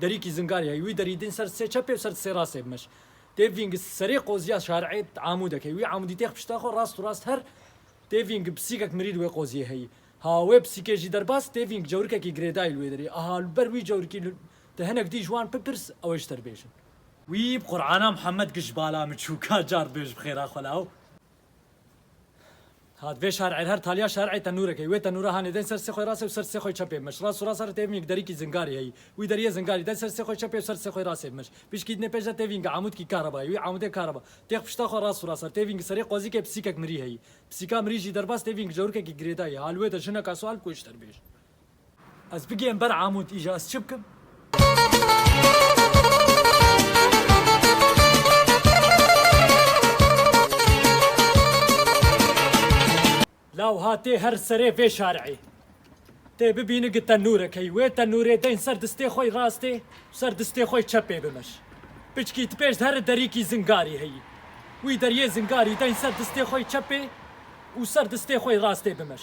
Derîkî zingar ye, wî derî din ser sê çepê û ser sê rastê bimeş. Tê vîng serê qoziya şar'ê amûdek heye. Wî amûdî têx pişta xwe rast û rast her tê vîng pisîkek mirî li wê qoziyê heye. Ha wê pisîkê jî derbas tê vîng cewrikekî girêdayî li wê derê. Aha li ber wî cewrikî li te hinek dî ji wan bipirs ew ê ji te dibêjin. Wî bi Qur'ana Muhammed kir ji bala miçûka cardbêj bi xêra xwe law. Hat vê şer'ê her taliya şer'ê tenûrek heyî. Wê tenûra hanê deng ser sê xwê rastê û ser sê xwê çepê bi mij. Rast û rast re têvîn yek derîkî zingarî heyî. Wî deriyê zingarî deng ser sê xwê çepê û ser sê xwê rastê bi mij. Pişkî dinê pêş de têvîn yek amûdkî kareba heyî. Wî amûdê kareba têx pişta xwe rast û rast re. Têvîn yek serê qozîkê pisîkek mirî heyî. Pisîka mirî jî derbas têvîn yek cewrikekî girêdayî. Hal wê de jineka sual kûj terbêj. Ez bigihim ber Amûd îja ez çi bikim? Law hatê her serê vê şari'î. Tê bibîni gi tenûrekey. Wê tenûrê deyn ser distê xwe yî rastê û ser distê xwe yî çepê bimeş. Piçkî ti pêş di heri derîkî zingarî heyî. Wî deriyê zingarî deyn ser distê xwe yî çepê û ser distê xwe yî rastê bimeş.